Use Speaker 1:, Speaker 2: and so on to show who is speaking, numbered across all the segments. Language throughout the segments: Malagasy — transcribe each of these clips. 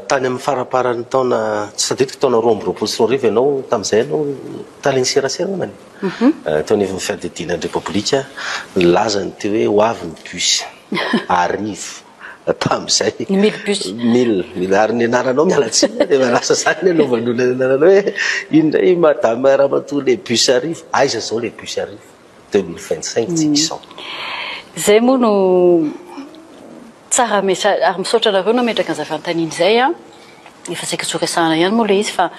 Speaker 1: Tany amin'ny faramparan'ny taona, tsy tadidiko, taona roa amby roapolo sy roa arivo ianao, tamin'izay ianao tale ny serasera angambany e, teo anivon'ny fiadidiana ny Repoblika, nilaza ny teo hoe ho avy ny bus, arivo tamin'izay, ny mille bus, mille, ary ny anaranao miala tsiny dia efa lasa izany ny anovan'olona ny anaranao hoe inona i madame ramatoa les bus arivo, aiza izao les bus arivo, deux mille vingt cinq tsy izao. Izay
Speaker 2: moa no. Tsara message ary misaotra anareo nametraka an'izay fanontaniana izay an! Efa saika tsy ho resahana ihany moa ilay izy fa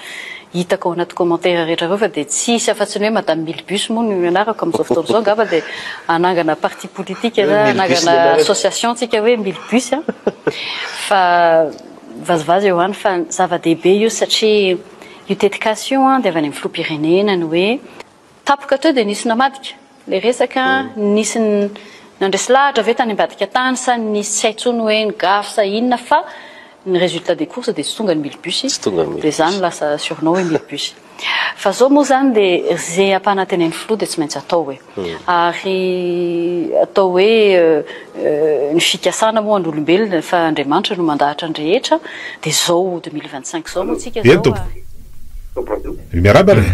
Speaker 2: hitako ao anaty commentaires rehetra ireo fa dia tsy hisy afa-tsy ny hoe Madame Milibus moa no ianarako amin'izao fotoana izao angamba dia hanangana parti politique na hanangana association tsika hoe Milibus an! fa vazivazy eo ihany fa zava-dehibe io satria io tetikasa io an dia avy any amin'ny filoham-pirenena ny hoe Tapoka teo dia nisy namadika ilay resaka, nisy nandresy lahatra ve tany ambadika tany sa nisy tsy hay intsony hoe ny gafy sa inona fa ny resultat des courses dia tsy tonga ny mille bus dia za no lasa surnom hoe mille bus. Fa zao moa zany dia ze ampanantenain'ny filoha dia tsy maintsy atao hoe. Ary atao hoe ny fikasana moa an'olombelona fa Andriamanitra no mandahatra ny rehetra dia zao deux mille vingt cinq zao moa tsika zao a. Miarahaba re!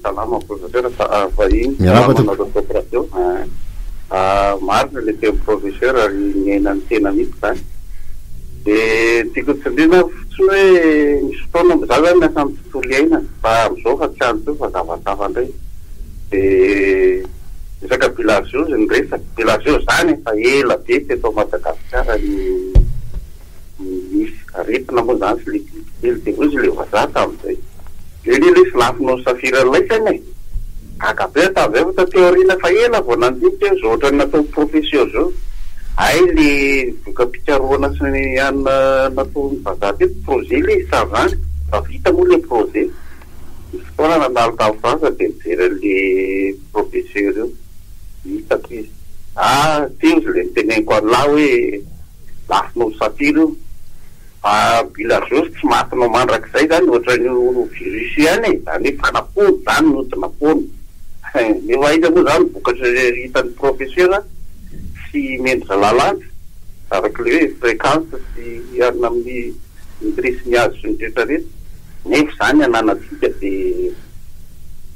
Speaker 3: Salama
Speaker 4: professeur vahiny Miarahaba tompoko. Salama anareo top radio ah marina le tenin'i professeur ary miaina ny tena mihitsy zany de ny tiako tsindriana fotsiny hoe misy fotoana mo za zany miasa amin'ny tontolo iainana fa amzao fa tsy any tsony fa zava-tsafa ndray de resaka bilageuse no resaka bilageuse zany efa ela be teto Madagasikara no Nisy aretina moa izany sy ilay bibikely dia hoy izy ilay vazaha tamin'izay, dia anie lesy lafo noho ny safira ilay saina e! Gaga be aho tamin'izay fa taty aoriana efa ela vao nandinika hoe izao ohatran'ny nataon'i Professeur izao. Hay ilay voka-pikarohana sy ny anona nataon'ny vazaha teto, projet ilay izy tamin'izany, efa vita moa ilay projet. Nisy fotoana nandalo tany Frantsa dia nijery an'ilay Professeur io, hitako izy. Ah! Teo izy ilay niteneniko an'lah hoe. lafo noho ny satira io fa bila zosy tsy maty no mandrakizay zany ohatran'io virus ihany e, zany hoe fanapoana zany no tsy napoana nefa aiza moa zany vokatra hitan'ny professeur sy mendrika lalàna araky le hoe fréquence sy hiarina amin'ny nitresse ny azy sy ny retraretra nefa zany ananantsika de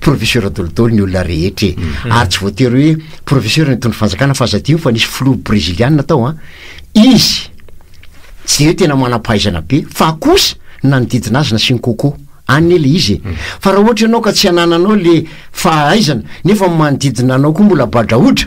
Speaker 5: Professeur dolidoly ny olona rehetra e. Ary tsy voatery hoe professeur ny nitondra fanjakana fa aza adino fa nisy filoha breziliana tao an. Izy tsy hoe tena manam-pahaizana be fa kosa nanodidina azy nasiany coco. Any ne le izy e. Fa raha ohatra ianao ka tsy anananao le fahaizana nefa ny manodidina anao koa mbola badraodra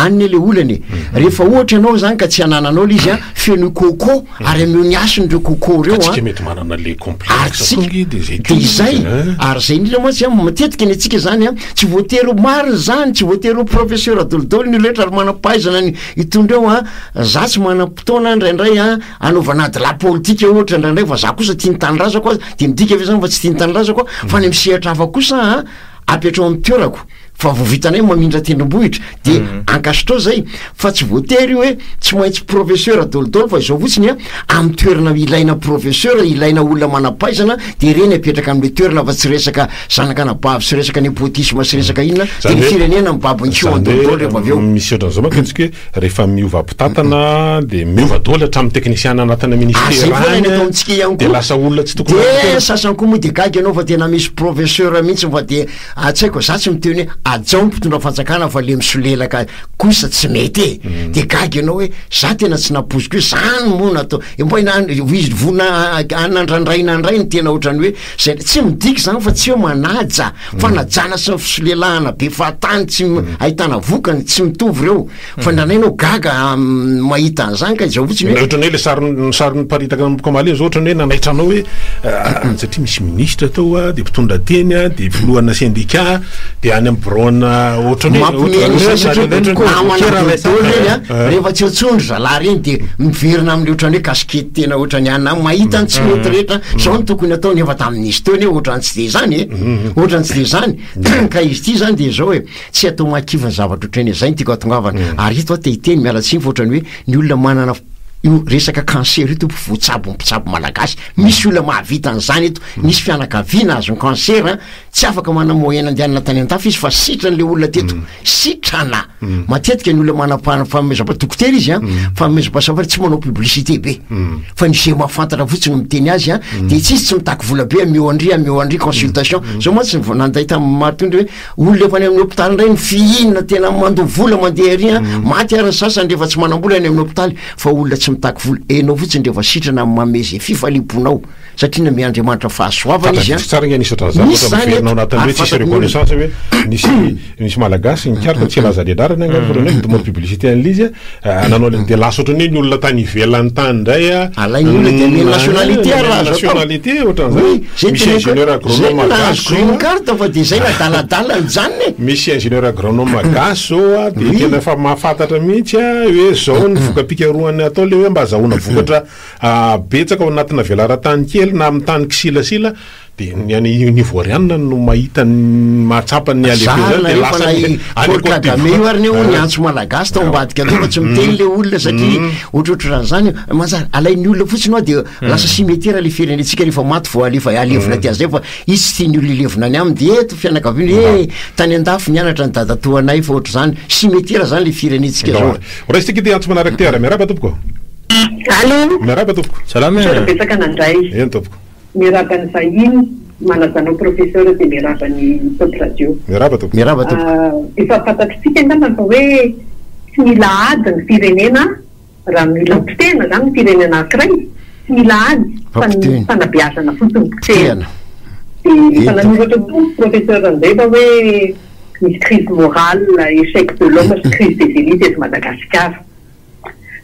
Speaker 5: Any ne le olana e. Rehefa ohatra ianao zany ka tsy anananao le izy a, feno coco ary ameo ny hasiny ireo coco reo a. Atsika mety manana le
Speaker 3: complexe tonge de zay ko. De
Speaker 5: zay, ary zay indrindra mantsy a, matetika ny antsika zany a, tsy voatery ho marina izany, tsy voatery ho professeur dolidoly ny olona rehetra ary manam-pahaizana ny hitondra eo a, za tsy manam-potoana ndraindray a, anaovana ady la politika ohatra ndraindray fa za kosa tia ny tanindrazako a, de midika ve zany fa tsy tia ny tanindrazako aho? Fa any amin'ny sehatra hafa kosa a, apetraho amin'ny toerako. fa vao vitanay mamindra tendrombohitra de ankasitrao zay fa tsy voatery io hoe tsy maintsy professeur dolidoly fa izao fotsiny a amin'ny toerana ilaina professeur ilaina olona manampahaizana de ireny apetraka amle toerana fa tsy resaka zanak'anabavy sy resaka nepotisme sy resaka inona de ny firenena mibaby ny kiho dolidoly rehefa avy eo misy ohatra an'izao manko antsika hoe
Speaker 3: rehefa miova mpitantana de miova doly hatramin'ny teknisiana anatina ministera any de
Speaker 5: lasa olona tsy tokony
Speaker 3: de sasany koa moa de
Speaker 5: gaga ianao fa tena misy professeur mihitsy fa de Atsaiko za tsy miteny hoe ajao ny mpitondra fanjakana fa le misolelaka kosa tsy mety e mm. de gaga ianao hoe za tena tsy napoziko hoe zany moa natao vonanandraindraina ndray ny tena ohatrany hoe zay tsy midika zany fa tsy hoe manaja mm. fanajana sy ny fisolelahana be fahatany tsy mm. ahitana vokany tsy mitovy reo Fa ndraindray ianao gaga mahita an'izany ka izao fotsiny hoe. Ohatran'ny hoe ilay sary ny
Speaker 3: sary niparitaka amin'ny boky Amaliana izao ohatran'ny hoe nanaitra anao hoe satria misy minisitra tao a, dia mpitondra teny a, dia filohana sendika, dia any amin'ny biraona ohatran'ny hoe. Mampihomehy ny saina satria namana
Speaker 5: boribory ireny a, rehefa tsy eo intsony ry zalahy ireny dia miverina amin'ilay ohatran'ny hoe kasikety tena ohatran'ny anona any, mahita ny tsy mety rehetra, izao no tokony atao nefa tamin'izy teo nefa ohatran'ny tsy dia izany e, ohatran'ny tsy dia izany ka izy ity izany dia izao e, Tsy atao mahakivy ny zavatra ohatran'ny hoe, zay no tiako hahatongavana. Ary eto aho te hiteny, miala tsiny fa ohatran'ny hoe ny olona manana io resaka cancer io tompoko voatsabo ny mpitsabo malagasy, misy olona mahavita an'izany eto, misy fianakaviana azon'ny cancer an, tsy afaka manana moyen andehanana tany an-dafy izy fa sitrany le olona teto, sitrana, matetika ny olona manam-pa- fanomezam-pa- dokotera izy an, fanomezam-pahasalamana fa tsy manao publicité be, fa ny ze mahafantatra fotsiny no miteny azy an, dia tsy izy tsy mitaky vola be an, mihoan-dry an, mihoan-dry consultation, zao mantsy vao nanday tamin'ny maro teo ny hoe, Olona efa any amin'ny hopitaly indray ny fihinana tena mandoa vola mandeha ery an, mm. maty ary ny sasany rehefa tsy manam-bola any amin'ny hopitaly fa olona tsy mitaky vola, enao fotsiny rehefa sitrana amin'ny mamezy izay fifaliam-ponao satria name Andriamanitra fahasoavana izy an. Tsara ny anisy zavatra
Speaker 3: miverina anatin'ny hoe tsisy reconnaissance hoe nisy nisy malagasy nikaroka tsy hilaza ny anarany angamba mm. fa hoe mety mbola publicité an'ilay izy an. Nanao le dia lasa ohatran'ny hoe ny olona tany ivelany tany indray a. Alain'ny olona dia anel
Speaker 5: nationalité ary raha azo atao. Nationalité
Speaker 3: ohatran'izany. Oui, zay Misy tena ingénieur ko- zay agronome nahazo gasy green zao. card
Speaker 5: fa dia zay nadaladala ny janony e. Misy ingénieur agronome
Speaker 3: gasy zao a, dia Oui. tena efa mahafantatra mihitsy a, hoe zao ny voka-pikarohana atao le hoe mba azahoana vokatra ah, betsaka ao anatina velaran-tany kely na amin'ny tany kisilasila. Dia ny any Ivoirianina no mahita ny mahatsapa ny halehibe izany dia lasa any Paul Kagame
Speaker 5: io ary ny eo ny antso malagasy tao ambadika tao fa tsy miteny ilay olona satria ohatrohatry raha izany mazary alain'ny olona fotsiny ao dia lasa simetera ilay firenentsika rehefa maty vao alefa alevina aty azay fa izy tsy tian'ny olona hilevina any aminy dia eto fianakaviana hoe tany an-dafy nianatra ny dadatoanay fa ohatry izany simetera izany ilay firenentsika zao raisitsika ity antso manaraka
Speaker 3: ity ary miarahaba tompoko Allô. Miarahaba tompoko. Salama e. Misaotra betsaka nandray.
Speaker 6: Eny tompoko.
Speaker 3: Miaraba ny
Speaker 6: vahiny malaza anao professeur dia miaraba ny Top Radio. Miaraba tompoko. Miaraba
Speaker 3: tompoko. Efa fantatritsika
Speaker 6: angamba fa hoe tsy mila ady ny firenena raha mila potehina zany ny firenena ankiray tsy mila ady fa ny fanabeazana fotsiny no potehina. Dia efa nanoratra koa ny professeur Randeva hoe misy crise morale, echec de l'homme sy crise des élites eto Madagasikara.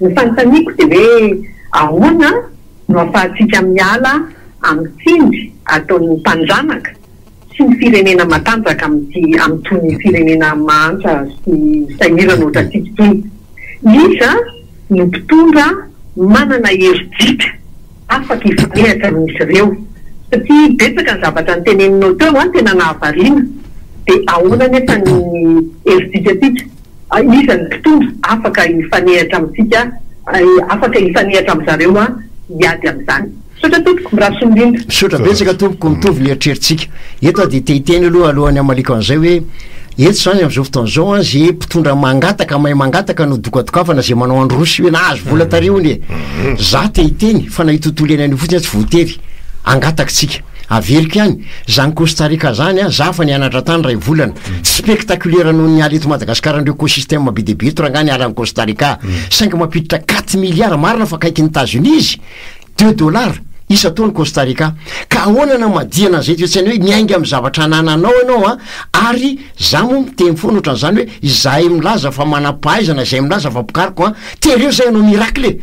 Speaker 6: Ny fanontaniako dia hoe ahoana no ahafahantsika miala amin'ny tsindry ataon'ny mpandranaka sy ny firenena matanjaka amin'ity amin'itony firenena mahantra sy sahirana ohatrantsika itony. Iza no mpitondra manana herijika afaka hifanehatra amin'izy ireo? Satria betsaka ny zavatra noteneninao teo an, tena nahavariana, dia ahoana anefa ny herijikantsika? Iza ny mpitondra afaka hifanehatra amintsika, afaka hifanehatra amin-dry zareo hiady amin'izany? Misaotra tompoko, mirary soa indrindra. Misaotra betsaka tompoko,
Speaker 5: mitovy ny eritreritsika. Eto aho dia te hiteny aloha alohan'ny hamaliako an'izay hoe, eto izany amin'izao fotoana izao an, ze mpitondra mangataka, mahay mangataka no dokadokafana, ze manao andro roa sy hoe nahazo vola tary hono e! Za te hiteny fa na io tontolo iainana io fotsiny aza tsy voatery hangataky tsika. Averiko ihany, zany Costa Rica zany a, za efa nianatra tany ray volana, tsy spectaculaire noho ny ala eto Madagascar ndreo ecosysteme be dia be eto rangah ny ala any Costa Rica, saingy mampiditra quatre milliards, marina fa akaikin'i Etats Unis izy, de dollars, isan-taona Costa Rica, ka ahoana no hamadihana an'izay toetsaina hoe miainga amin'ny zavatra anananao ianao a, ary za moa miteny foana ohatran'izany hoe izahay milaza fa manam-pahaizana, izay milaza fa mpikaroka an, tereo zay hanao miracle e!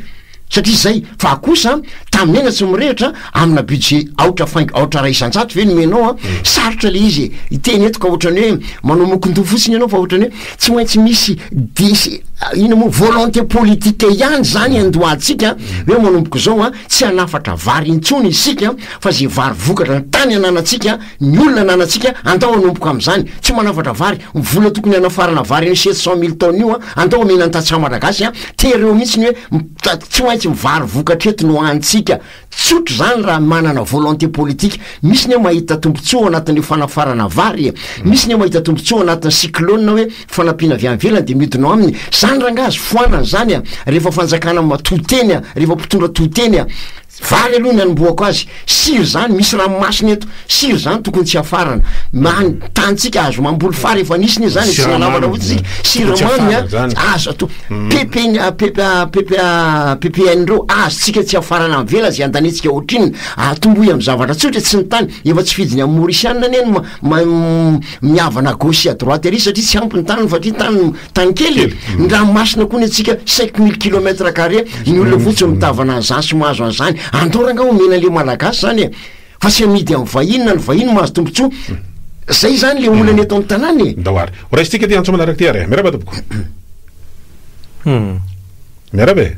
Speaker 5: Satria izay, fa kosa tamin'ny aina tsy mirehitra amina budget aotra faingo aotra iray isan-jato ve nomenao an? Sarotra ilay izy e! Hiteny eto ka ohatran'ny hoe manao mokon-doha fotsiny ianao fa ohatran'ny hoe tsy maintsy misy desi- inona moa? Volonté politique ihany izany iandohantsika hoe manomboka izao an, tsy hanafatra vary intsony isika fa izay vary vokatra ny tany ananantsika Ny olona ananantsika, andao hanomboka amin'izany, tsy manafatra vary, ny vola tokony hanafarana vary an'io sept cent mille tonnes io an, andao omena ny tantsaha malagasy an, tery eo mihitsy ny hoe mitaty tsy maintsy mivary vokatra eto ny ho hanintsika. Tsotra izany raha manana volonté politique. Misy ny hoe mahita tombontsoa ao anatin'io fanafarana vary e. Misy ny hoe mahita tombontsoa ao anatin'ny cyclone hoe fanampiana avy any ivelany dia miodina ao aminy. Izany rangahy azo foanana izany an, rehefa fanjakana matoa teny an, rehefa mpitondra toa teny an. Vary aloha ny anombohako azy. Sira zany, misy ranomasina eto. Sira zany tokony tsy afarana. Maha ny tanintsika azo mamboly fary efa nisy ne zany e, tsy nanaovana fotsiny isika. Siramamy a, azo atao. Pepeny a, pepe a, pepe a, PPN reo, azontsika tsy afarana avela ze andanetsika ohatrinona. Atombohy am zavatra tsotra e, tsy ny tany. Efa tsy fidiny am Maorisianina anie ny ma- ma- mihavana à gauche sy à droite ary satria tsy ampy ny taniny fa atria tany no. Tany kely e! Ny ranomasina koa ny antsika cinq mille kilomètre carré, ny olona fotsiny mitavana an'izany sy mahazo an'izany. Andao rangah omena an'le malagasy zany e! Fa tsy amidy amin'ny vahiny na ny vahiny mahazo tombotsoa. Zay zany le olana eto amin'ny tanàna e! Ndao ary ho raisintsika ty
Speaker 3: antso manaraka ty ary e! Miarahaba tompoko. Miarahaba e!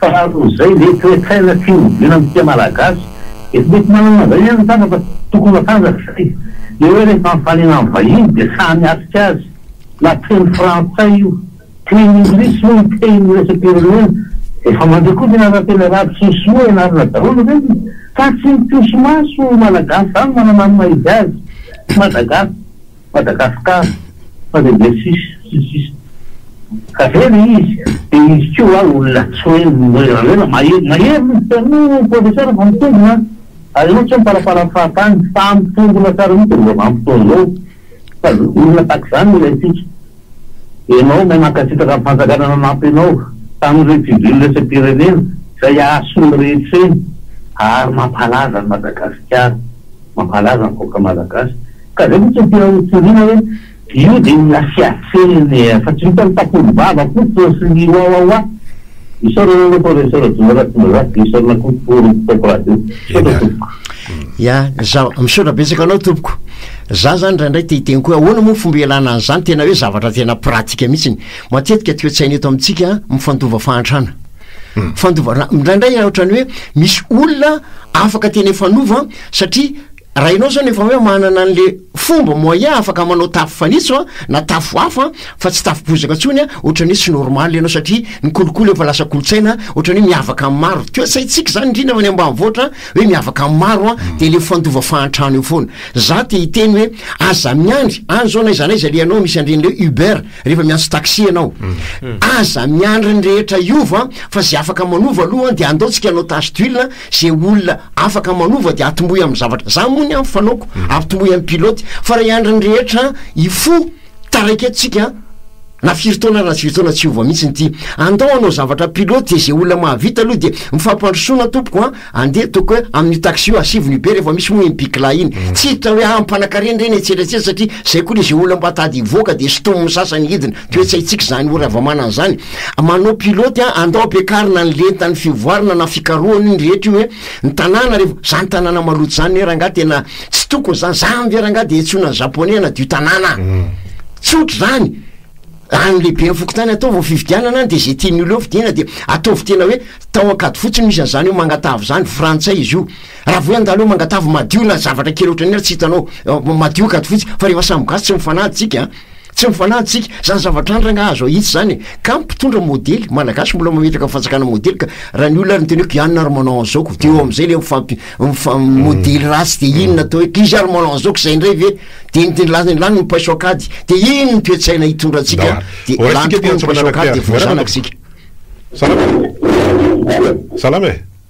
Speaker 7: Fa noho izay ve toe-tsaina tsy hovina ny tia malagasy? Efa mety manana an'izay ihany ny sasany fa tokony matanjaka satria le hoe rehefa mifaliana amin'ny vahiny dia sahy miatrika azy na teny frantsay io, teny inglisy moa ny teny iraisam-pirenena. Efa mandeha koa ny anaran-teny arabo sy ny sinoa ianarana daholo ireny fa tsy ny mpihoso-maso malagasy izany manana ny maha izy azy. Tsy Madagasy. Madagascar fa dia dia sisa sy sisa ka zay le izy de izy ko wa olona tsy hoe rajoelina mahery mahery izy taloha professeur vao mitombona ary enao tsy hoe miparapara am fahatany fa mitombona tsara mihitsy amzao vanimpotoana zao fa olona tak zany ilaintsika enao may mankasitraka ny fanjakana nanampy enao tam reny civil iraisam-pirenena zay hahasoa ny rehetra eny ary mampalaza an'i madagasikara mampalaza ny vahoaka malagasy Ka zay mihitsy no tena notoriana hoe io dia ny lasiatseny eh, fa tsy vitan'ny takoly vava koa paosiny wawawa. Isaorana anao Professeur Rajoelina Ratsimbazaha dia isaorana koa Tory mpitaiky
Speaker 5: radio. Misaotra tompoko. Ya, za misaotra betsaka anao tompoko. Za zany indraindray te hiteny koa hoe ahoana moa ny fomba ialana an'izany tena hoe zavatra tena pratika mihitsy. Matetika toetsaina eto amintsika mifandova fahantrana. Fandova, indraindray ohatran'ny hoe misy olona afaka tena hifanova satria Raha ianao zao no efa hoe manana an'le fomba moyen afaka manao tafo fanitso a, na tafo hafa fa tsy tafo bozaka intsony a, ohatrany hoe tsy normal ianao satria ny kolikoly efa lasa kolontsaina ohatrany hoe miavaka amin'ny maro, toe-tsaintsika zany indrindra fa any ambanivohitra hoe miavaka amin'ny maro a, de le fandova fahantrana eo foana. Za te hiteny hoe aza miandry, any zao na aiza na aiza le ianao misy an'reny le uber rehefa miantso taxi ianao, aza miandry ny rehetra hiova fa ze afaka manova aloha de andao tsika hanao tache d'huile ze olona afaka manova de atombohy amin'ny zavatra za mony an fanaoko atombohy amin'ny pilote fa raha hiandry ny rehetra hifoha taraiky eto tsika an na firy taona na tsy firy taona tsy hiova mihitsy ny ty andao hanao zavatra pilote de ze olona mahavita aloha de mifampandrosoana tompoko an andeha ataoko hoe amin'io taxi io asivony be rehefa misy moa iny bikla iny tsy hiditra hoe ah mpanan-karena ireny etsy ery etsy ery satria zay koa le ze olona mba tady hivoaka de sintomin'ny sasany hidina toetsaintsika zany oravamana an'zany manao pilote an, andao ampiakarina ny lentan'ny fivoarana na fikarohana iny rehetra io hoe ny tanàna rehefa, zany tanàna maloto zany ne rangaha tena tsy tokony zany, zany ve rangaha de hentsoina ny japonais hanadio tanàna an, tsy ohatra zany, raha ny lehiben'ny fokontany atao vao fifidianana de ze tian'ny olona eo fidiana de ataovy tena hoe tao ankady fotsiny misy an'zany hoe mangatavo zany, frantsay izy io, raha vao hoe andalo eo mangatavo madio na zavatra kely ohatran'iny ary tsy hitanao, madio ankady fotsiny, fa rehefa samy gasy tsy mifanady tsika an. Tsy mifanahy tsika, zany zavatra andragna azo ahitsy zany e! Ka mpitondra modely, malagasy mbola mametraka fanjakana modely ka! Raha ny olona ary ny teneko ianona ary manao an'izao ko! De eo am'zay le mifampi- mifa- modely ratsy de inona atao hoe, izy ary manao an'izao ko zay ndray ve? De ny teny lany lany ny paiso an-kady! De inona ny toe-tsaina hitondra antsika? De lany tokoa ny paiso an-kady de voazanaka isika.
Speaker 3: Salama e!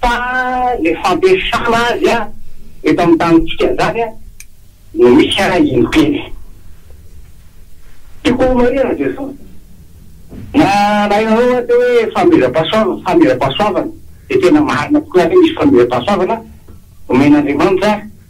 Speaker 4: Fa le fampiasana azy eto amin'ny tanintsika zany no misy impiny. Tiako ho marina Jesosy. Na raha ianareo ho'a te hoe fanomezam-pahasoavana, fanomezam-pahasoavana dia tena marina tokoa zany hoe misy fanomezam-pahasoavana omen'Andriamanitra.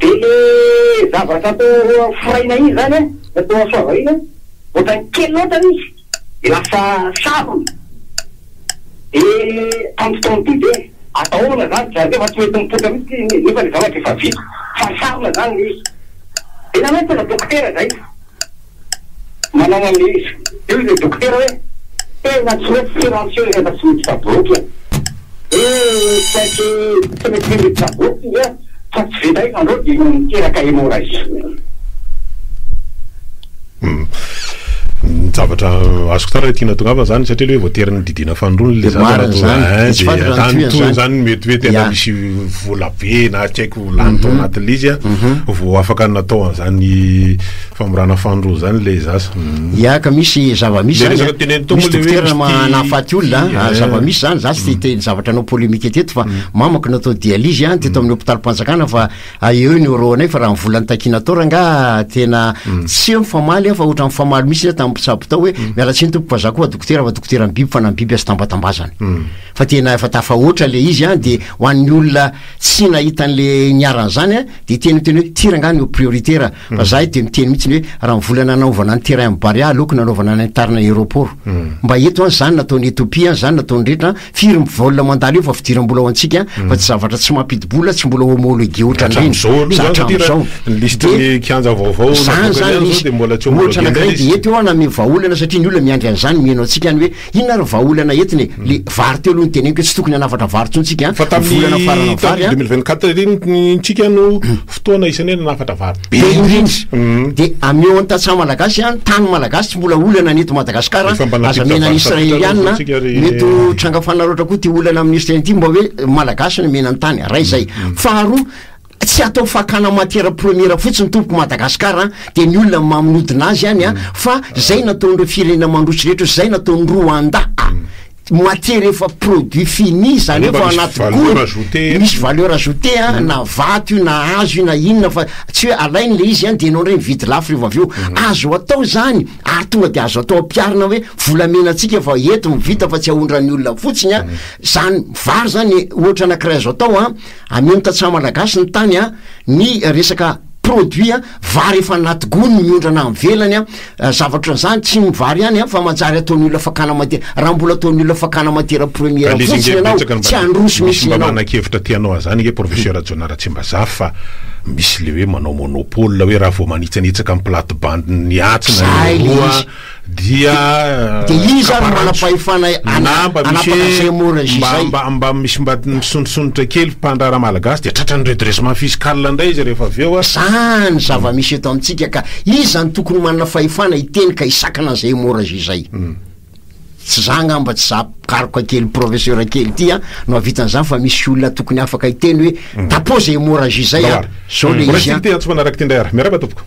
Speaker 4: Dia le zavatra tao aroan'ny foraina iny izany an, na tao soava iny an, ohatran'ny kely loatra le izy, dia lasa sarona, dia tamin'ity taona ity dia ataona izany, za ve efa tsy mety mipoitra mihintsy ity, nefa le zavatra efa vita, fa sarona izany le izy, dia nalaiko tena dokotera izay. Manao analyse eo ilay dokotera hoe tena tsy mety silencieux rehefa tsy misy tsaboky e! Hee misy saiky tsy mety mendrika tsaboky izy an! Fa tsy vita io izany reo dia io miteraka
Speaker 3: hémorragie. Ny zavatra azoko tsara ilay tiana atongavana izany satria ilay hoe voatery nodidiana fanindroany ilay zaza raha toa izany dia lany toa izany mety hoe tena misy vola be na tsy haiko lany tao anatin'ilay izy an vao afaka natao an'izany Famorana fanondro zany le zasa. Mm. Ya ka misy
Speaker 5: zava-misy zany. Resaka teneniny tao misy dokotera mahafaty olona, ah, eh. zava-misy zany, za tsy te mm. zavatra anao polémique teto fa mm. mamako natao dialyse an ah, teto amin'ny hôpital-panjakana fa ah, eo ny euro anay fa raha volan'ny takina tao rangaha tena tsy eo mifamaly fa ohatran'ny famaly misy zany tamin'ny mpitsabo tao hoe miala tsiny tompoko fa za koa dokotera fa dokotera ny biby fa na biby azy tambatambazana. Fa tena efa tafahoatra le izy an de ho an'ny olona tsy nahita an'le niaran'izany an de teny teny hoe ty rangaha ny prioritaire Fa zahay dia miteny mihitsy ny hoe raha ny vola nanaovana ny terrain Barea aleoko nanaovana ny tary na aeroport. Mba eto an zany nataon'i Ethiopia an zany nataon'ny rehetra an, firy ny vol mandalo eo fa fidiram-bola ho antsika an, fa tsy zavatra tsy mampidi-bola tsy mbola homologué otran'ireny za
Speaker 3: hatramin'izao. Dia zany zany misy
Speaker 5: ohatra anankiray dia eto eo an namehy vahaolana satria ny olona miandry an'izany miheno antsika any hoe Inona ary ny vahaolana entiny e? Le vary teo aloha no teneniko hoe tsy tokony hanafatra vary intsony tsika an! Fa tamin'ny volana
Speaker 3: farana vary an! deux mille vingt quatre ery ny tsika no fotoana isan'ny hoe nanafatra vary be indrindra! De amy eo an
Speaker 5: tantsaha malagasy an, tany malagasy tsy mbola olana ny eto Madagascar an! Aza mihena ny Israeliana an! Mety ho tranga fanaraotra koa ty olana amin'ny Israely ty mba hoe malagasy no mihena ny tany! Ray zay! Faharoa, Tsy atao fakana matière première fotsiny tompoko Madagascar an, dia ny olona maminodina azy any an, fa zay nataon'ireo firenena mandroso rehetra ozy zay nataon'i Rwanda a, matière efa produit fini zany efa ao anaty gony, misy valeur ajoutée an, na vato io na hazo io na inona fa tsy hoe alainy le izy an dia enao ndray mividy lafo revo avy eo, azo atao zany ary tonga dia azo atao ampiarina hoe volamena tsika efa eto mivita fa tsy ahondran'ny olona fotsiny an, zany vary zany ohatra anakiray azo atao an. Amiho ny tantsaha malagasy ny tany an, ny resaka produit an, vary efa anaty gony miondrana any ivelany an, zavatra ohatran'izany, tsy ny vary ihany an, fa manjary ataon'ny olona fakana mati- raha mbola ataon'ny olona fakana matière première An'izy fotsiny ange ianao, betsaka no tsy mba handroso misy mihitsy mba ianao. manana-kevitra te hanao
Speaker 3: an'izany ange Professeur Rajaonah Ratsimbazaha fa misy ilay hoe manao monopole hoe raha vao manitsanitsaka ny plate-bande-n'ny atsy na ny Zay le roa izy. Dia iza ary no
Speaker 5: manam-pahefana hanapaka an'i Zemmour sy izay?
Speaker 3: Mba mba misy mba misondrosondrotra kely mpandraharaha malagasy dia tratran'ny redressement fiscal indray izy rehefa avy eo a! Zany zava-misy
Speaker 5: eto amintsika ka! Iza no tokony manana fahefana hiteny ka hisakana an'i Zemmour sy izay? Tsy za angamba tsy za mpikaroka kely professeur kely ity a no hahavita an'izany fa misy olona tokony afaka hiteny hoe tapoha Zemmour sy izay a! Zao le izy a! Mbola kely te-hantso fanaraka ity indray ary!
Speaker 3: Miarahaba tompoko!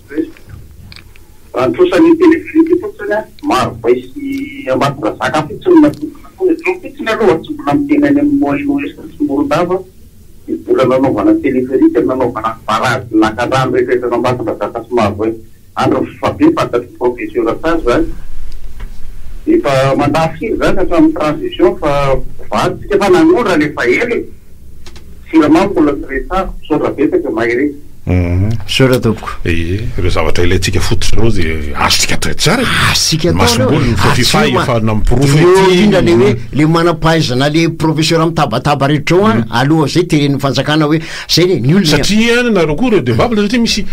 Speaker 4: Resaka. Raha ny trosan'ny telegripy eto fotsiny an, Marivay sy Ambatondrazaka fotsiny no natokana koa. Eto fotsiny aloha tsy mbola miteny any amin'ny Moyen Ouest sy Morondava ny vola nanaovana teleferika, nanaovana ny barazin'ny lakandrano rehetra eto Ambatondrazaka sy Marivay. Andry Rivobabe, fantatry ny professeur tsara izany. Efa mandà firy izany hatramin'ny transition fa vato isika fa nanondra ilay faela e! Siramamy mbola tsy resahako, misaotra betsaka Maire e! Uhm. Misaotra
Speaker 5: tompoko. Ie, ireo zavatra
Speaker 3: ilaintsika fototra ireo dia azontsika atao etsy ary. Azontsika atao ireo. Masomboly
Speaker 5: ny Fofifay
Speaker 3: efa namporofo ity. Eo indrindra
Speaker 5: le hoe le manam-pahaizana le professeur mitabataba rehetra ao an, mm. aloha zay teren'ny fanjakana hoe zay le ny olona. Satria any nareo koa
Speaker 3: redevable satria misy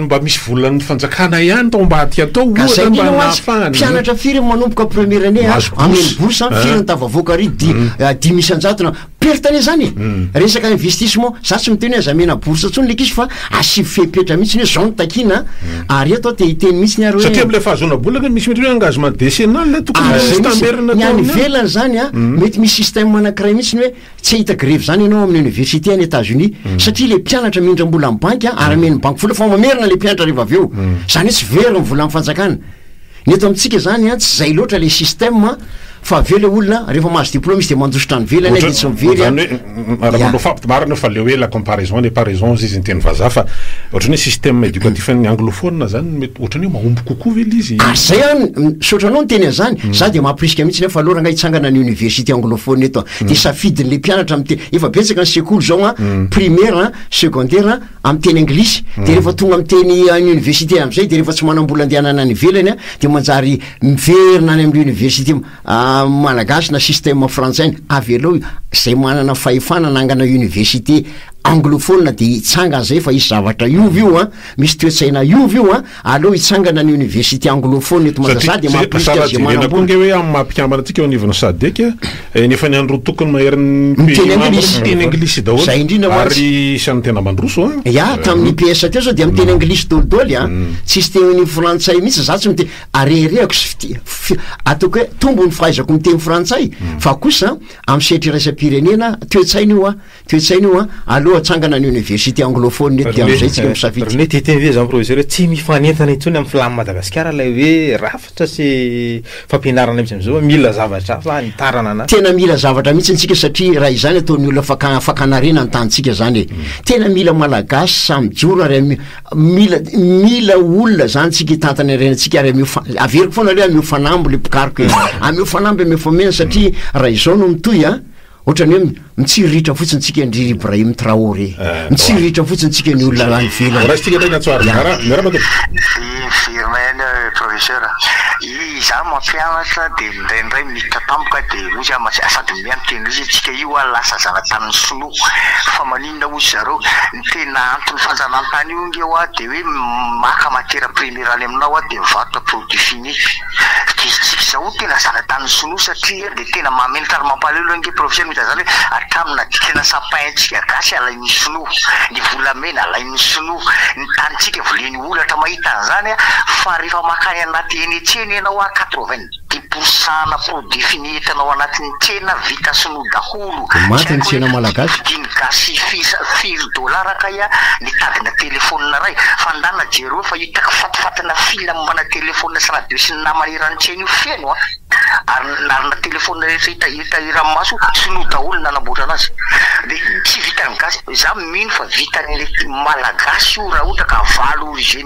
Speaker 3: mba misy volan'ny fanjakana ihany tao ambadika atao ohatra mba nahafahana. Mpianatra firy manomboka
Speaker 5: première année a, amena bourse a, firy no tafavoaka ary dimy isan-jato na Perte anie zany e! Resaka investissement, za tsy miteny hoe aza amena bourse intsony le ankizy fa asivo fepetra mihitsy ny hoe zao no takiana a! ary eto aho te hiteny mihitsy ny ary hoe. Satria amin'ilay fahazoana bola anie
Speaker 3: misy mety hoe engagement décennal le tokony misy tamberina tao aminy ao. Ny any ivelany zany
Speaker 5: a, mety misy système anankiray mihitsy ny hoe tsy hahita grevy zany ianao amin'ny université any Etats Unis satria le mpianatra mindram-bola amin'ny banky a, ary amen'ny banky vola fa mamerina le mpianatra rehefa avy eo, zany hoe tsy very ny volan'ny fanjakana. Ny eto amintsika izany an, tsy izay loatra ilay système an, fa avy eo ilay olona an, rehefa mahazo diplôme izy dia mandositra any ivelany any dia tsy mivery an. Ohatran, ohatran, ohatran, ohatran,
Speaker 3: marina io fa ilay hoe la comparaison n'est pas raison hozy izy ny teny vazaha fa ohatran hoe système éducatif an'ny anglophone izany mety ohatran hoe mahomby kokoa ve ilay izy? Ary izay an, misaotra
Speaker 5: anao niteny an'izany, za dia mampirisika mihitsy nefa alora angaha hitsangana ny université anglophone eto an, dia safidin'ilay mpianatra miteny, efa betsaka ny sekoly izao an, primaire an, secondaire an, amin'ny teny anglisy, dia rehefa tonga amin'ny teny any oniversite amin'izay dia rehefa tsy manam-bola andehanana any ivelany an, dia manjary miverina any amin'ny oniversite malagasy na système frantsay ny, avelao izay manana fahefana hanangana oniversite anglophone dia hitsanga an'izay fa hisy zavatra hiova io an, misy toe-tsaina hiova io an. Aleo hitsangana ny Université anglophone eto Manjazà dia mahaporisika azy manambola. Satria tsy dia tena amin'ny maha mpikambana
Speaker 3: antsika eo anivon'ny Sadec dia efa ny andro tokony maherin'ny pays membre miteny anglisy daholo ary
Speaker 5: isan'ny tena
Speaker 3: mandroso an! Ya, tamin'ny IPS
Speaker 5: teo zao dia miteny anglisy daholo daholo an! Tsisy teny an'io frantsay mihitsy za tsy miteny ary reharehako sy fitia ataoko hoe tombo ny fahaizako miteny frantsay fa kosa amin'ny sehatry iraisam-pirenena toe-tsaina io an! Toe-tsaina io an! Aleo atsangana ny Université anglophone eto dia amin'izay tsika misafidy. René, Te-hiteny ve zany Professeur
Speaker 8: hoe tsy mifanentana intsony amin'ny Flam Madagasikara ilay hoe rafitra sy fampianarana mihitsy amin'izao, mila zavatra hafa hanitarana na. Tena mila zavatra mihitsy
Speaker 5: ntsika satria raha izany ataon'ny olona faka- fakan'harena ny tanintsika zany e! Tena mila Malagasy sahy mijoro ary am- mila mila olona zany tsika hitantana harenantsika ary ameo fa- averiko foana aloha hoe ameo fanamby le mpikaroka e! Ameo fanamby ameo fameno satria raha izao no mitohy an! Ohatran'ny hoe mitsiriritra fotsiny tsika an-dry Ibrahim Traoré. Mitsiriritra fotsiny tsika ny olona any ivelany. Horaisitsika indray ny antso ary zara. Miarahaba tompoko.
Speaker 9: Miverina ihany aho eh professeur a! Izaho mampianatra dia indraindray miditra tampoka dia hoy izaho, sady miha miteny indray izy hoe tsika io ho'a lasa zanatanin'ny sinoa fa maninona? inona hoy zareo ny tena anton'ny fanjanahantany io nge hoa de hoe maka matiera premiera any aminao hoa de mivarotra produit fini distrika zao ho tena zanatanin'ny sinoa satria de tena mahamenatra ary mampaleo loha nge profesera mita zany hoe hatramin'ny nadikana sapin antsika gasy alain'ny sinoa ny volamena alain'ny sinoa ny tanintsika voleny olatra mahita an'izany aho fa rehefa makany anaty eny etsy eny ianao hoa quatre vingt de posana pour défini entanao anatiny tsena vita sinoa daholo Vao maty tsy ny haiko tsena hoe
Speaker 5: malagasy. vidiny gasy fisa
Speaker 9: firy dollars kay a ny tadina téléphone ray fa ndana jereo fa hitako fatifatina fila mombana téléphone sy radio sy ny namana eran'ny tsena io feno a ary ary na téléphone rehetra hita hita eran'ny maso sinoa daholo ny nanamboatra anazy de tsy vitan'ny gasy za mino fa vitan'ny malagasy io raha ohatra ka valo origine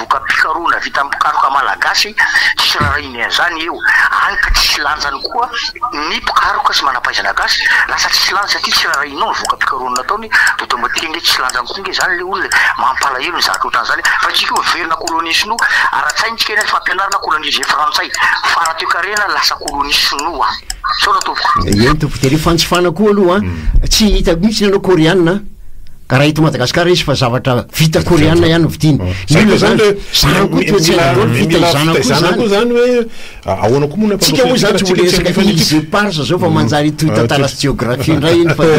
Speaker 9: voka-pisaroana vita amin'ny mpikaroka malagasy sy rarahiany an'izany eo, any ka tsisy lanjany koa ny mpikaroka sy manampahaizana gasy, lasa tsisy lanjany satria tsy rarahianao ny voka-pikarohana nataony, dia atao mba tia ange tsisy lanjany koa ange izany ilay olona e! mampalahelo ny zatra ohatran'izany e! fa isika io miverina colonie sinoa, ara-tsaina isika nefa fampianarana colonisé frantsay, fara toekarena lasa colonie sinoa! sao raha tompoko. Eny tompoko, dia ilay fanjifana
Speaker 5: koa aloha an, tsy hitako mihintsy ny anao koreana an. Ka raha eto Madagasikara izy fa zavatra vita koreana ihany no vidiany. Inona izany le zany koa toetsaina daholo vita izana koa izany. Izany hoe
Speaker 3: ahoana koa moa na Tsika moa izany tsy ho resaka
Speaker 5: izy eparsa zao fa manjary hitohy tantara sy jeografia indray iny fa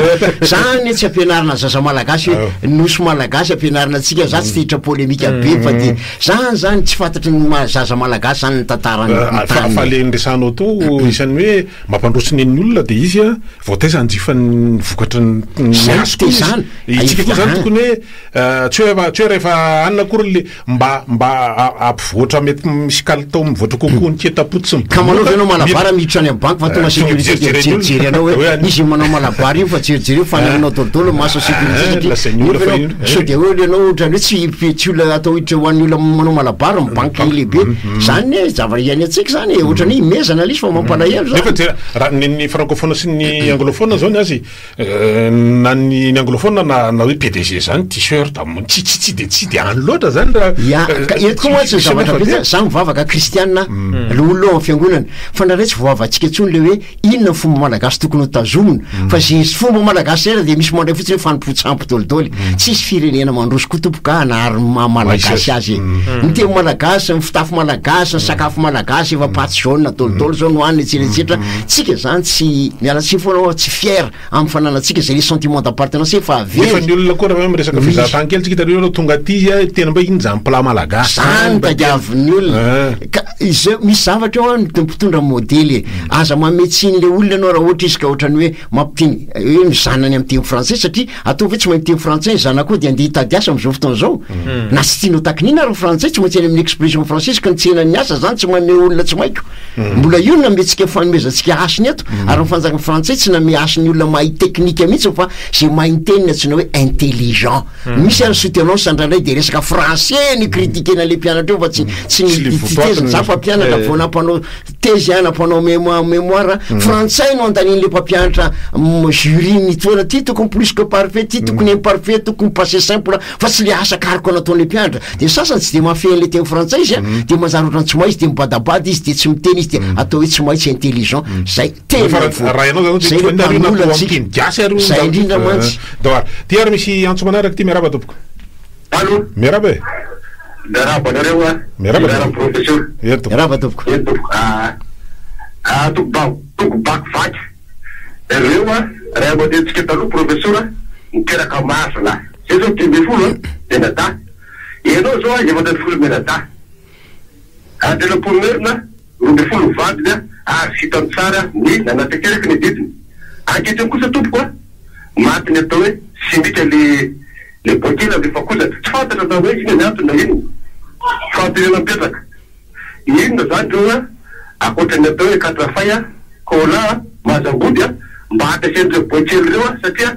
Speaker 5: zany anie tsy ampianarina zaza malagasy hoe nosy malagasy ampianarina antsika za tsy te hiditra polemika be fa dia zany zany tsy fantatry ny maha zaza malagasy zany ny tantaran'ny tany. Fa fa le niresahanao
Speaker 3: teo isan'ny hoe Mampandroso ny an'ny olona dia izy vao taiza hanjifan'ny vokatry ny miasiko izy. Izany te izany. Isika
Speaker 5: koa izany tokony
Speaker 3: hoe tsy hoe tsy hoe rehefa hanina akory ilay mba mba hampivoatra mety misy kalitao mivoatra kokoa ny keta-po tsy mibodoka. Ka manao ve ianao malabara
Speaker 5: miditra any amin'ny banky fa tonga sécurité dia mijerijery anao hoe izy manao malabara iny fa jerijery eo fanahinao daholo maso sécurité satria nefa ianao sao dia hoe ianao ohatran'ny hoe tsy tsy olona atao hiditra ho an'ny olona manao malabara ny banky lehibe. Zany ne zavatra iainan-tsika zany e, ohatrany hoe imezana ilay izy fa mampalahelo zany. Nefa dia raha ny ny francophone
Speaker 3: sy ny anglophone zao ny azy eh, na ny ny anglophone na na hoe PDG zany t-shirt am- tsy tsy tsy dia tsy dia any loatra zany raha Ya, eh, ka eto koa
Speaker 5: mantsy ny zavatra betsaka, za mivavaka kristianina, loholona ao amin'ny fiangonana, fa ndraindray tsy voavavantsika intsony le hoe Inona ny fomba malagasy tokony ho tazomina? Fa ze fomba malagasy rehetra dia misy mandray fotsiny hoe fanompoan-tsampy dolidoly. Tsisy firenena mandroso koa tompoko ka hanary ny maha malagasy azy e. Ny teny malagasy, ny fitafy malagasy, ny sakafo malagasy, efa pâte jaune dolidoly zao no hanina etsetra etsetra. Tsika zany tsy, miala tsiny foana aho, tsy fier. amin'ny fananantsika izay le sentiment d'appartenance efa avy ela. Efa ny olona koa raha hoe
Speaker 3: miresaka fizahantany kely tsika hitanareo reo tonga aty a tena mba iny zany plat malagasy zany tadiavin'ny
Speaker 5: olona ka izay misy zavatra eo an mpitondra modely e aza mamehy tsiny le olona ianao raha ohatra izy ka ohatran'ny hoe mampiteny hoe ny zanany amin'ny teny frantsay satria ataovy hoe tsy mahay miteny frantsay ny zanakao dia andeha hitady asa amin'izao fotoana izao na tsy tianao takinina ary ny frantsay tsy maintsy any amin'ny expression française ka ny tsenan'ny asa zany tsy mamehy olona tsy maiko Mm. Mbola io no nametsika fanomezantsika hasiny eto, mm. ary ny fanjakana frantsay tsy name hasiny olona mahay teknika mihitsy fa izay mahay ny teniny antsoina hoe intelligent. Mm. Misy ary soutenance andranay dia resaka français ny critiquena ilay mpianatra eo fa tsy tsy ny teziny za fa mpianatra eh. vao nampanao tezy a nampanao mémoire frantsay no andanian'ilay mpampianatra jury mitoana ty tokony plus que parfait ty tokony imparfait tokony passé simple fa tsy le asa karoka nataon'le mpianatra de ny sasany tsy de mahafehy an'le teny frantsay izy a de manjary otrany tsy mahay izy de mibadabada izy de tsy miteny izy de atao hoe tsy mahay tsy intelligent zay tena Efa raha- voa- raha ianao zany zay hoe toy ny nareo na mpamola toa
Speaker 3: antsika. amin'ny teny gasy ary io Zay ndao- indrindra eh, mantsy.
Speaker 5: ndao ary. Ty ary misy
Speaker 3: antso manaraka ty miarahaba tompoko Allo, miarahaba e miarahaba anareo a. Miarahaba, Miarahaba miarahaba.
Speaker 4: professeur. Eny tompoko. rava tompoko
Speaker 5: Eny tompoko. Ah, ah, toko
Speaker 4: ba- toko bakivaky. Ireo a, ray aman-drenintsika taloha professeur niteraka maro zalahy. Zay zao dimy ambin'ny folo an, menadahy. Ianao izao an, efatra ambin'ny folo menadahy. Andriana Pomerina, roa ambin'ny folo ny vadiny an, ary vitany tsara ny nanatanteraka ny adidiny. Ankehitriny kosa tompoko an, maty ny atao hoe simika le le boaikely avy Vakozatra. Tsy fantatra na hoe inona ny antony na inona. Fampirenana mipetraka. Inona izany ireo an, ankoatra ny atao hoe katrafay an, cola an, mazambody an, mba ampiasain'ireo boaikely ireo an, satria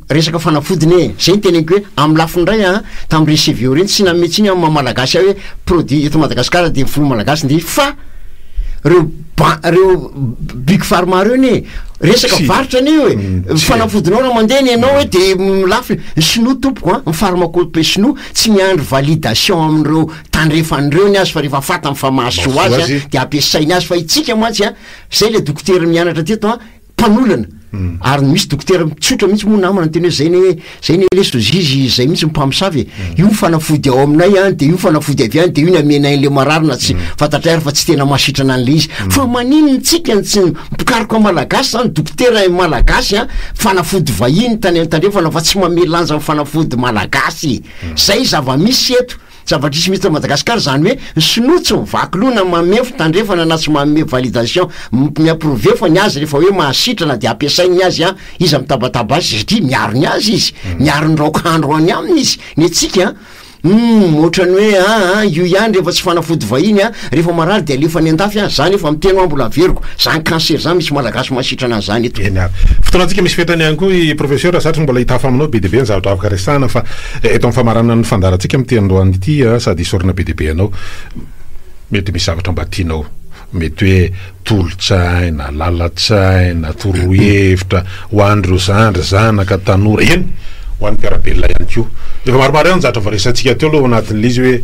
Speaker 5: Resaka fanafody ne, zay ny teneniko hoe amin'ny lafiny iray an, tamin'ny reny CVO reny tsy nanome tsiny amin'ny maha malagasy ahy hoe produit eto Madagascar dia ny filoha malagasy nge fa reo ban reo big pharma reo ne resaka varotra ne hoe fanafodinao raha mandeha ny anao hoe dia lafo ny sinoa tompoko an, ny pharmacope sinoa tsy miandry validation amin'ireo tandrefany reo ny azy fa rehefa fatany fa mahasoa azy an dia ampiasainy azy fa itsika mantsy an, zay le dokotera mianatra teto an, mpanolana ary misy dokotera mitsotra mihitsy moa namana ny teny hoe zay ne zay ne lesy ozizy zay mihitsy ny mpamosavy e io ny fanafody ao aminay an dia io ny fanafody avy any dia io ny amenay an'ilay marary na tsy fantatray ary fa tsy tena mahasitrana an'ilay izy fa manin ny tsika ny tsy mpikaroka malagasy zany dokotera e malagasy an fanafody vahiny tany an tandrefana fa tsy mamelanja ny fanafody malagasy e zay zava-misy eto Zava-trisy mihitsy eto Madagascar zany hoe ny sinoa tsy mivaky loha na mameo fitandrefana na tsy manome validation mi approve fa ny azy rehefa hoe mahasitrana dia ampiasainy ny azy an! iza mitabataba azy satria miaro ny azy izy, miaro ny raokahandro any aminy izy, ny antsika an! humm otrany hoe aa io ihany rehefa tsy fanafody vahiny an! Rehefa marary dia alefa any andafy an! Za nefa miteny hoa mbola averiko! Zany cancer zany misy malagasy mahasitrana an'izany eto! Eny ary. Fotoanantsika misy fetrany
Speaker 3: ihany koa i Professeur satry mbola hitafa aminao be dia be ny zavatra afaka resahana fa eto amin'ny famaranana ny fandaharantsika amin'ity androany ity sady hisorona be dia be anao mety misy zavatra mba tianao mety hoe tolo-tsaina, lalan-tsaina, torohevitra ho an'ireo zandry, zanaka, tanora, eny ho an'ny mpiara-belona ihany koa. Efa maromaro ihany ny zavatra voaresahantsika teo aloha ao anatin'ilay izy hoe.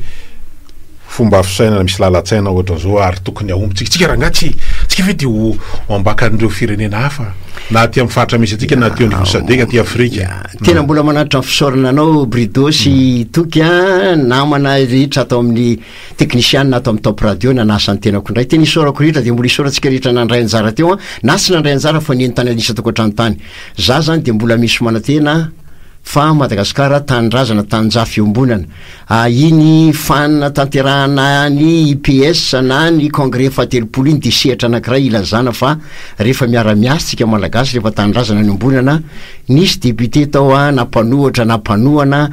Speaker 3: fomba fisainana misy lalan-tsaina ohatran'izao ary tokony hahomby tsika, tsika rangahy tsy tsika ve te ho ambakan'ireo firenena hafa na aty amin'ny faritra misy antsika na aty anivon'ny sadec aty afrika. Tena mbola manatitra
Speaker 5: ny fisaorana anao Brido sy Toky a, namana rehetra ato amin'ny teknisiana ato amin'ny Top Radio nanasa ny tenako indray, tena isaorako rehetra dia mbola isaorantsika rehetra nandray anjara teo an, na tsy nandray anjara fa nentina niisa tokantrano tany, za zany dia mbola misy manantena, Fa Madagasikara tanindrazana taninjaha fiombonana. Ah iny fan natanterahana ny IPS na ny congrès fahatelopolo iny dia sehatra anakiray ilazana fa rehefa miara miasa tsika malagasy rehefa tanindrazana niombonana nisy député tao ah na mpanohatra na mpanohana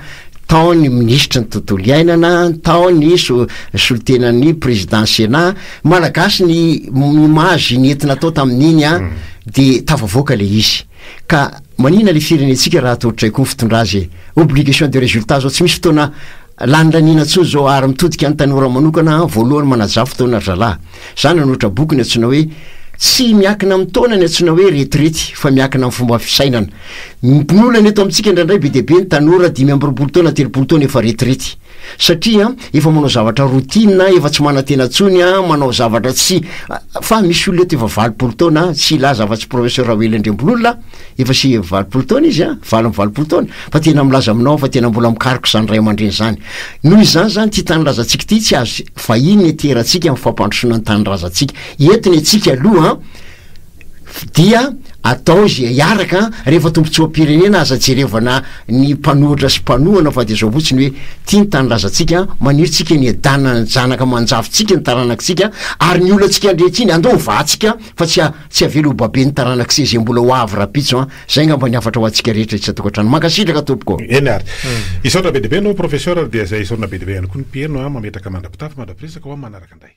Speaker 5: tao ny minisitry ny tontolo iainana tao ny solontenan'ny président sénat malagasy ny image nentina tao tamin'iny ah dia tafavoaka ilay izy Ka manina le firenentsika raha atao traiko fitondra azy e! Obligation de resultat zao tsy misy fotoana lanilaniana tsony zao ary mitodika any tanora manokana an voalohany manajà fotoana ry zalahy. Za nanoatra boky ny antsoina hoe tsy miakina amin'ny taona ny antsoina hoe retirety fa miakina amin'ny fomba fisainana. Ny olana eto amintsika indraindray be dia be ny tanora dimy amby roapolo taona telopolo taona efa retirety. Satria efa manao zavatra routine a, efa tsy manantena intsony a, manao zavatra tsy fa misy olona eto efa valopolo taona a, tsy hilaza afa-tsy professeur Raoelina Andriambololona, efa sivy amby valopolo taona izy a, valo amby valopolo taona, fa tena milaza aminao aho fa tena mbola mikaroka izany ray aman-dreny izany. Noho izany izany ity tanindrazantsika ity tsy azo vahiny ny ateratsika amin'ny fampandrosoana ny tanindrazantsika. Eto ny antsika aloha an, dia atao izay hiaraka an, rehefa tombotsoam-pirenena aza jerevana ny mpanohitra sy mpanohana fa dia izao fotsiny hoe ity ny tanindrazantsika an, maniry tsika ny hiadanan'ny zanaka aman-jafintsika ny taranakitsika ary ny olantsika ankehitriny andao hovahatsika fa tsy tsy havela ho baben'ny taranak'ise izay mbola ho avy rahampitso an, izay angamba ny hafatra ho antsika rehetra isan-tokantrano. Mankasitraka tompoko. Eny ary.
Speaker 3: Hisaotra be dia be anao Professeur ary dia izay hisaorana be dia be ihany koa ny mpiheno an, mametraka mandra-pitafa mandra-piresaka ho amin'ny manaraka indray.